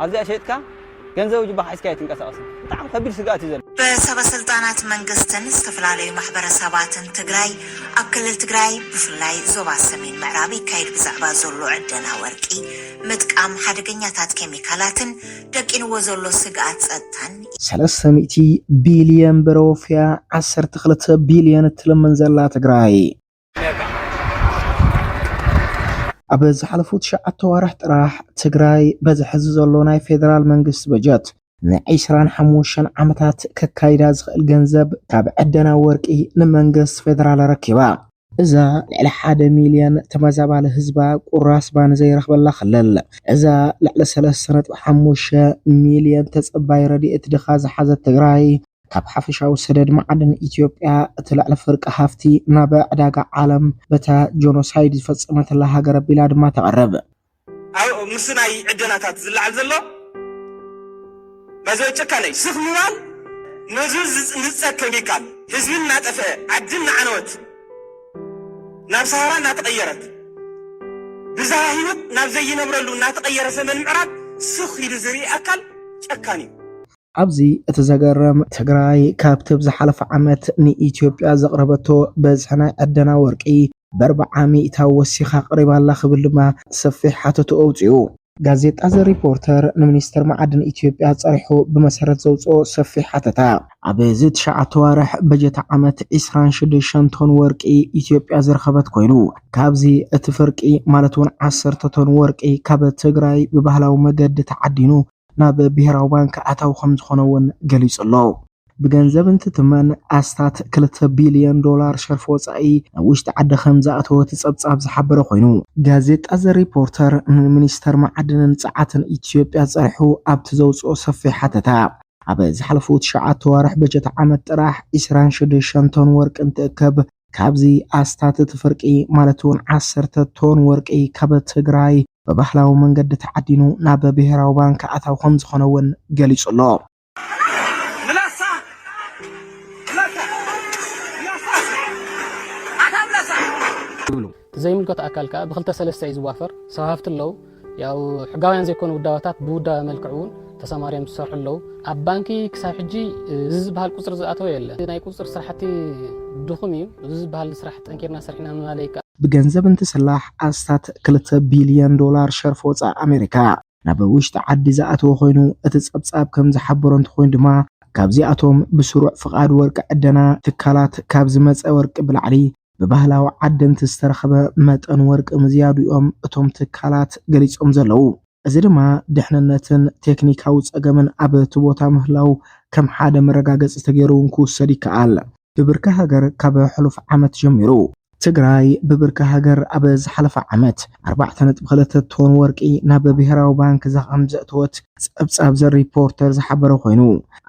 ኣብዚኣ ሸይጥካ ገንዘብ ጅባኻ ሒዝካ ኣይትንቀሳቐስን ብጣዕሚ ከቢድ ስግኣት እዩ ዘሎ። ብሰበስልጣናት መንግስትን ዝተፈላለዩ ማሕበረሰባትን ትግራይ ኣብ ክልል ትግራይ ብፍላይ ዞባ ሰሜን ምዕራብ ይካየድ ብዛዕባ ዘሎ ዕደና ወርቂ፣ ምጥቃም ሓደገኛታት ኬሚካላትን ደቂንዎ ዘሎ ስግኣት ፀጥታን፣ ሰለስተ ሚእቲ ቢልየን ብር ኣወፍያ ዓሰርተ ክልተ ቢልየን እትልምን ዘላ ትግራይ፣ ኣብ ዝሓለፉ ትሽዓተ ኣዋርሕ ጥራሕ ትግራይ በዚ ሕዚ ዘሎ ናይ ፌደራል መንግስቲ በጀት ንዒስራን ሓሙሽተን ዓመታት ከካይዳ ዝኽእል ገንዘብ ካብ ዕደና ወርቂ ንመንግስቲ ፌደራል ኣረኪባ። እዛ ልዕሊ ሓደ ሚልዮን ተመዛባሊ ህዝባ ቁራስ ባኒ ዘይረኽበላ ክልል፣ እዛ ልዕሊ ሰለስተ ነጥቢ ሓሙሽተ ሚልዮን ተፀባይ ረድኤት ድኻ ዝሓዘት ትግራይ፣ ካብ ሓፈሻዊ ሰደድ መዓድን ኢትዮጵያ እቲ ልዕሊ ፍርቂ ሃፍቲ ናብ ዕዳጋ ዓለም በታ ጆኖሳይድ ዝፈጸመትላ ሃገር ኣቢላ ድማ ተቕርብ። ኣብ ምስናይ ዕደናታት ዝለዓል ዘሎ ባይዘወይ ጭካነ'ዩ። ስኽ ምባል ነዚ ዝጽንጸ ከሚካል ህዝቢ እናጠፍኤ፣ ዓዲ እናዓነወት፣ ናብ ሰሃራ እናተቐየረት፣ ብዝሃ ህይወት ናብ ዘይነብረሉ እናተቐየረ ዘመን ምዕራብ ስኽ ኢሉ ዝርኢ ኣካል ጨካን'ዩ። ኣብዚ እቲ ዘገርም ትግራይ ካብቲ ኣብ ዝሓለፈ ዓመት ንኢትዮጵያ ዘቕረበቶ በዝሒ ናይ ዕደና ወርቂ በርብዓ ሚእታዊ ወሲኻ ኣቕሪባ ኣላ ክብል ድማ ሰፊሕ ሓተትኡ ኣውጺኡ። ጋዜጣ ዘ ሪፖርተር ንሚኒስተር መዓድን ኢትዮጵያ ጸሪሑ ብመሰረት ዘውጽኦ ሰፊሕ ሓተታ፣ ኣብዚ ትሽዓተ ኣዋርሕ በጀት ዓመት ዕስራን ሽዱሽተን ቶን ወርቂ ኢትዮጵያ ዝረኸበት ኮይኑ፣ ካብዚ እቲ ፍርቂ ማለት'ውን ዓሰርተ ቶን ወርቂ ካብ ትግራይ ብባህላዊ መገዲ ተዓዲኑ ናብ ብሄራዊ ባንክ ኣታዊ ከምዝኾነ እውን ገሊፁ'ሎ። ብገንዘብ እንትትመን ኣስታት ክልተ ቢልዮን ዶላር ሸርፊ ወፃኢ ናብ ውሽጢ ዓዲ ከምዝኣተወ እቲ ፀብፃብ ዝሓበረ ኮይኑ፣ ጋዜጣ ዘ ሪፖርተር ንሚኒስተር መዓድንን ፀዓትን ኢትዮጵያ ፀሪሑ ኣብቲ ዘውፅኦ ሰፊሕ ሓተታ ኣብ ዝሓለፉ ትሽዓተ ኣዋርሕ በጀት ዓመት ጥራሕ ዒስራን ሸድሸንተን ወርቂ እንትእከብ፣ ካብዚ ኣስታት እቲ ፍርቂ ማለት እውን ዓሰርተ ቶን ወርቂ ካብ ትግራይ ብባህላዊ መንገዲ ተዓዲኑ ናብ ብሄራዊ ባንክ ኣታዊ ከምዝኾነ እውን ገሊፁ ኣሎ። ዘይምልከቶ ኣካል ከኣ ብክልተ ሰለስተ እዩ ዝዋፈር። ሰብ ሃፍቲ ኣለው፣ ያው ሕጋውያን ዘይኮኑ ውዳበታት ብውዳበ መልክዕ እውን ተሰማርዮም ዝሰርሑ ኣለው። ኣብ ባንኪ ክሳብ ሕጂ እዚ ዝበሃል ቁፅሪ ዝኣተወ የለን። ናይ ቁፅፅር ስራሕቲ ድኹም እዩ። እዚ ዝበሃል ስራሕ ጠንኪርና ሰሪሕና ምባል ኣይከኣልን። ብገንዘብ እንትስላሕ ኣስታት ክልተ ቢልየን ዶላር ሸርፊ ወፃኢ ኣሜሪካ። ናብ ውሽጢ ዓዲ ዝኣተወ ኮይኑ፣ እቲ ጸብጻብ ከም ዝሓበሮ እንተኾይኑ ድማ፣ ካብዚኣቶም ብስሩዕ ፍቓድ ወርቂ ዕደና ትካላት ካብ ዝመጸ ወርቂ ብላዕሊ፣ ብባህላዊ ዓደንቲ ዝተረኽበ መጠን ወርቂ ምዝያዱ'ዮም እቶም ትካላት ገሊጾም ዘለዉ። እዚ ድማ ድሕንነትን ቴክኒካዊ ጸገምን ኣብ'ቲ ቦታ ምህላዉ ከም ሓደ መረጋገጺ ተገይሩ'ውን ክውሰድ ይከኣል። ብብርኪ ሃገር ካብ ሕሉፍ ዓመት ጀሚሩ፣ ትግራይ ብብርኪ ሃገር ኣብ ዝሓለፈ ዓመት ኣርባዕተ ነጥቢ ክልተ ቶን ወርቂ ናብ ብሄራዊ ባንክ ከምዘእተወት ፀብፃብ ዘ ሪፖርተር ዝሓበረ ኮይኑ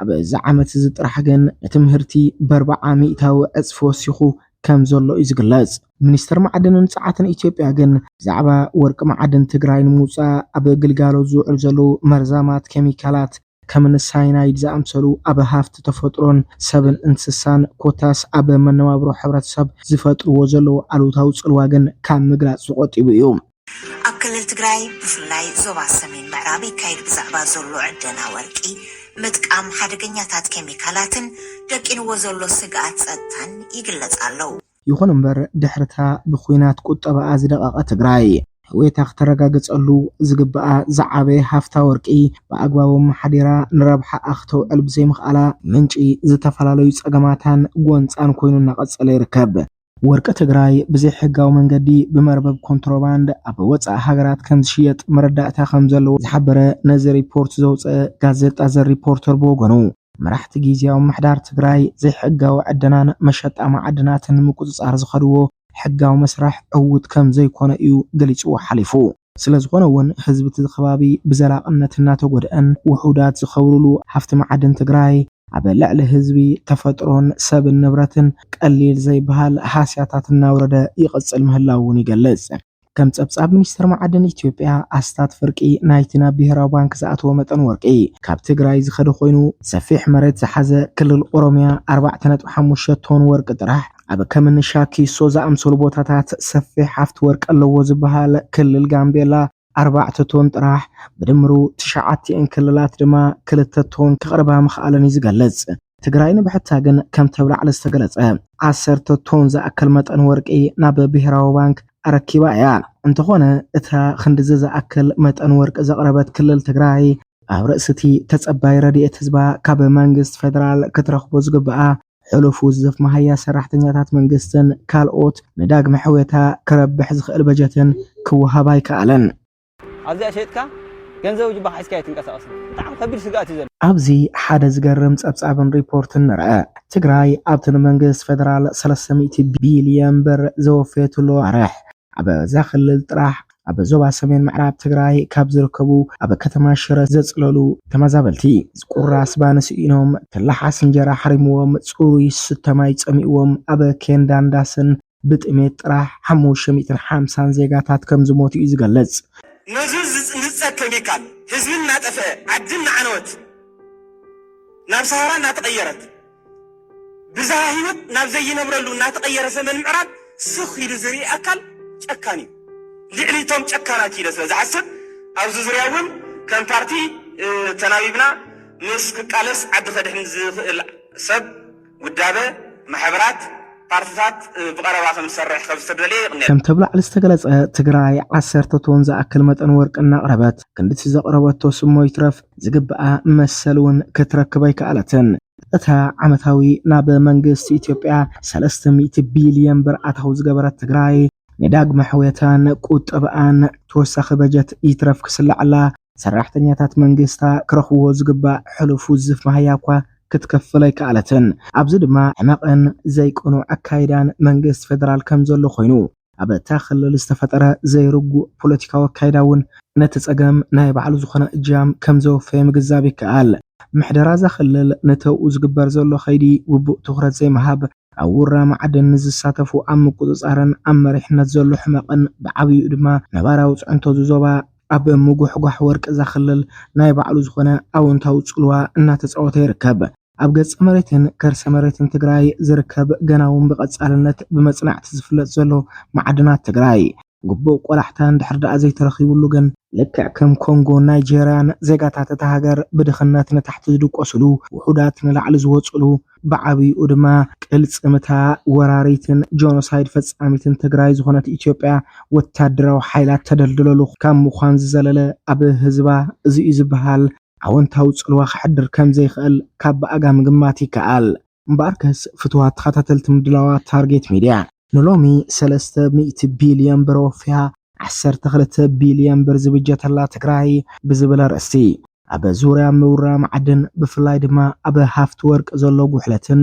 ኣብዚ ዓመት እዚ ጥራሕ ግን እቲ ምህርቲ በርባዓ ሚእታዊ ዕፅፊ ወሲኹ ከምዘሎ እዩ ዝግለፅ። ሚኒስቴር ማዕድንን ፀዓትን ኢትዮጵያ ግን ብዛዕባ ወርቂ መዓድን ትግራይ ንምውፃእ ኣብ ግልጋሎት ዝውዕሉ ዘለዉ መርዛማት ኬሚካላት፣ ከምኒ ሳይናይድ ዝኣምሰሉ ኣብ ሃፍቲ ተፈጥሮን ሰብን እንስሳን ኮታስ ኣብ መነባብሮ ሕብረተሰብ ዝፈጥርዎ ዘለዉ ኣሉታዊ ፅልዋ ግን ካብ ምግላፅ ዝቖጢቡ እዩ። ኣብ ክልል ትግራይ ብፍላይ ዞባ ሰሜን ምዕራብ ይካየድ ብዛዕባ ዘሎ ዕደና ወርቂ፣ ምጥቃም ሓደገኛታት ኬሚካላትን ደቂንዎ ዘሎ ስግኣት ፀጥታን ይግለፅ ኣለው። ይኹን እምበር ድሕሪታ ብኩናት ቁጠባኣ ዝደቐቐ ትግራይ፣ ሕውየታ ክተረጋግፀሉ ዝግበኣ ዝዓበየ ሃፍታ ወርቂ ብኣግባቡ ኣመሓዲራ ንረብሓኣ ክተውዕል ብዘይምኽኣላ ምንጪ ዝተፈላለዩ ፀገማታን ጎንፃን ኮይኑ እናቐፀለ ይርከብ። ወርቂ ትግራይ ብዘይሕጋዊ መንገዲ ብመርበብ ኮንትሮባንድ ኣብ ወፃኢ ሃገራት ከምዝሽየጥ መረዳእታ ከምዘለዎ ዝሓበረ ነዚ ሪፖርት ዘውፀኣ ጋዜጣ ዘ ሪፖርተር ብወገኑ፣ መራሕቲ ጊዜያዊ ምምሕዳር ትግራይ ዘይሕጋዊ ዕደናን መሸጣ ማዕድናትን ንምቁፅፃር ዝኸድዎ ሕጋዊ መስርሕ ዕዉት ከምዘይኮነ እዩ ገሊፅዎ ሓሊፉ። ስለዝኾነ እውን ህዝቢ እቲ ኸባቢ ብዘላቕነት እናተጎድኣን ውሑዳት ዝኸብርሉ ሃፍቲ ማዕድን ትግራይ ኣብ ልዕሊ ህዝቢ፣ ተፈጥሮን ሰብን ንብረትን ቀሊል ዘይበሃል ሃስያታት እናውረደ ይቕፅል ምህላዉ እውን ይገልፅ። ከም ጸብጻብ ሚኒስትር መዓድን ኢትዮጵያ ኣስታት ፍርቂ ናይቲ ናብ ብሄራዊ ባንክ ዝኣተወ መጠን ወርቂ ካብ ትግራይ ዝኸደ ኮይኑ ሰፊሕ መሬት ዝሓዘ ክልል ኦሮሚያ ኣርባዕተ ነጥቢ ሓሙሽተ ቶን ወርቂ ጥራሕ ኣብ ከምኒ ሻኪሶ ዝኣምሰሉ ቦታታት ሰፊሕ ሃፍቲ ወርቂ ኣለዎ ዝበሃል ክልል ጋምቤላ ኣርባዕተ ቶን ጥራሕ ብድምሩ ትሽዓቲኤን ክልላት ድማ ክልተ ቶን ከቕርባ ምኽኣለን እዩ ዝገልጽ። ትግራይ ንብሕታ ግን ከምቲ ኣብ ላዕሊ ዝተገለፀ ዓሰርተ ቶን ዝኣክል መጠን ወርቂ ናብ ብሄራዊ ባንክ ኣረኪባ እያ። እንተኾነ እታ ኽንድዚ ዝኣክል መጠን ወርቂ ዘቕረበት ክልል ትግራይ፣ ኣብ ርእሲ እቲ ተፀባዪ ረድኤት ህዝባ ካብ መንግስቲ ፌደራል ክትረኽቦ ዝግብኣ ሕሉፍ ውዝፍ መሃያ ሰራሕተኛታት መንግስትን ካልኦት ንዳግመ ሕውየታ ክረብሕ ዝኽእል በጀትን ክወሃባ ኣይከኣለን። ኣብዚኣ ሸይጥካ ገንዘብ ጁባኻ ሒዝካ ኣይትንቀሳቐስን። ብጣዕሚ ከቢድ ስግኣት እዩ ዘሎ። ኣብዚ ሓደ ዝገርም ጸብጻብን ሪፖርትን ንርኣ። ትግራይ ኣብቲ ንመንግስቲ ፌደራል ሰለስተ ሚእቲ ቢልዮን ብር ዘወፈየትሉ ኣዋርሕ፣ ኣብዛ ክልል ጥራሕ ኣብ ዞባ ሰሜን ምዕራብ ትግራይ ካብ ዝርከቡ ኣብ ከተማ ሽረ ዘጽለሉ ተመዛበልቲ፣ ቁራስ ባኒ ስኢኖም፣ ተላሓስ እንጀራ ሓሪምዎም፣ ጽሩይ ዝስተ ማይ ጸሚእዎም ኣብ ኬንዳን ዳስን ብጥሜት ጥራሕ ሓሙሽተ ሚእትን ሓምሳን ዜጋታት ከምዝሞቱ እዩ ዝገልጽ። ነዙ ዝጽንጸ ከሚካል ህዝቢ እናጠፍኤ ዓዲ እናዓነወት ናብ ሰሃራ እናተቐየረት ብዝሃ ህይወት ናብ ዘይነብረሉ እናተቐየረ ሰሜን ምዕራብ ስኽ ኢሉ ዝርኢ ኣካል ጨካን እዩ። ልዕሊ እቶም ጨካናት ኢለ ስለዝሓስብ ኣብዚ ዙርያ እውን ከም ፓርቲ ተናቢብና ምስ ክቃለስ ዓዲ ከድሕን ዝኽእል ሰብ ውዳበ ማሕበራት ፓርትታት ብቐረባ ከም ዝሰርሕ ከም ዝተደልየ ይቕኔል። ከምቲ ኣብ ላዕሊ ዝተገለፀ ትግራይ ዓሰርተ ቶን ዝኣክል መጠን ወርቂ እናቕረበት ክንድቲ ዘቕረበቶ ስሞ ይትረፍ ዝግብኣ መሰል እውን ክትረክብ ኣይከኣለትን። እታ ዓመታዊ ናብ መንግስቲ ኢትዮጵያ ሰለስተ ሚእቲ ቢልየን ብር ኣታዊ ዝገበረት ትግራይ፣ ንዳግመ ሕውየታን ቁጠብኣን ተወሳኺ በጀት ይትረፍ ክስለዓላ፣ ሰራሕተኛታት መንግስታ ክረኽብዎ ዝግባእ ሕሉፍ ውዝፍ መሃያ'ኳ ክትከፍል ኣይከኣለትን። ኣብዚ ድማ ሕመቕን ዘይቅኑዕ ኣካይዳን መንግስቲ ፌደራል ከም ዘሎ ኮይኑ፣ ኣብ'ታ ክልል ዝተፈጠረ ዘይርጉእ ፖለቲካዊ ኣካይዳ'ውን ነቲ ጸገም ናይ ባዕሉ ዝኾነ እጃም ከም ዘወፈየ ምግንዛብ ይከኣል። ምሕደራ'ዛ ክልል ንተውኡ ዝግበር ዘሎ ከይዲ ግቡእ ትኹረት ዘይምሃብ፣ ኣብ ውራ ማዕድን ንዝሳተፉ ኣብ ምቁጽጻርን ኣብ መሪሕነት ዘሎ ሕመቕን ብዓብይኡ ድማ ነባራዊ ጽዕንቶ እዚ ዞባ ኣብ ምጉሕጓሕ ወርቂ እዛ ክልል ናይ ባዕሉ ዝኾነ ኣወንታዊ ጽልዋ እናተጻወተ ይርከብ። ኣብ ገጸ መሬትን ከርሰ መሬትን ትግራይ ዝርከብ ገና'ውን ብቐጻልነት ብመጽናዕቲ ዝፍለጥ ዘሎ ማዕድናት ትግራይ፣ ግቡእ ቆላሕታ እንድሕር ደኣ ዘይተረኺብሉ ግን፣ ልክዕ ከም ኮንጎን ናይጀርያን ዜጋታት እታ ሃገር ብድኽነት ንታሕቲ ዝድቆስሉ፣ ውሑዳት ንላዕሊ ዝወጽእሉ፣ ብዓብይኡ ድማ ቅልጽም እታ ወራሪትን ጆኖሳይድ ፈጻሚትን ትግራይ ዝኾነት ኢትዮጵያ ወታደራዊ ሓይላ እተደልድለሉ ካብ ምዃን ዝዘለለ ኣብ ህዝባ እዚ'ዩ ዝበሃል ኣወንታዊ ጽልዋ ከሕድር ከምዘይክእል ካብ ብኣጋ ምግማት ይከኣል። እምበኣርከስ ፍትዋት ተኸታተልቲ ምድላዋት ታርጌት ሚድያ፣ ንሎሚ ሰለስተ ሚእቲ ቢልዮን ብር ኣወፊያ ዓሰርተ ክልተ ቢልዮን ብር ዝብጀተላ ትግራይ ብዝብል ኣርእስቲ ኣብ ዙርያ ምውራ መዓድን ብፍላይ ድማ ኣብ ሃፍቲ ወርቂ ዘሎ ጉሕለትን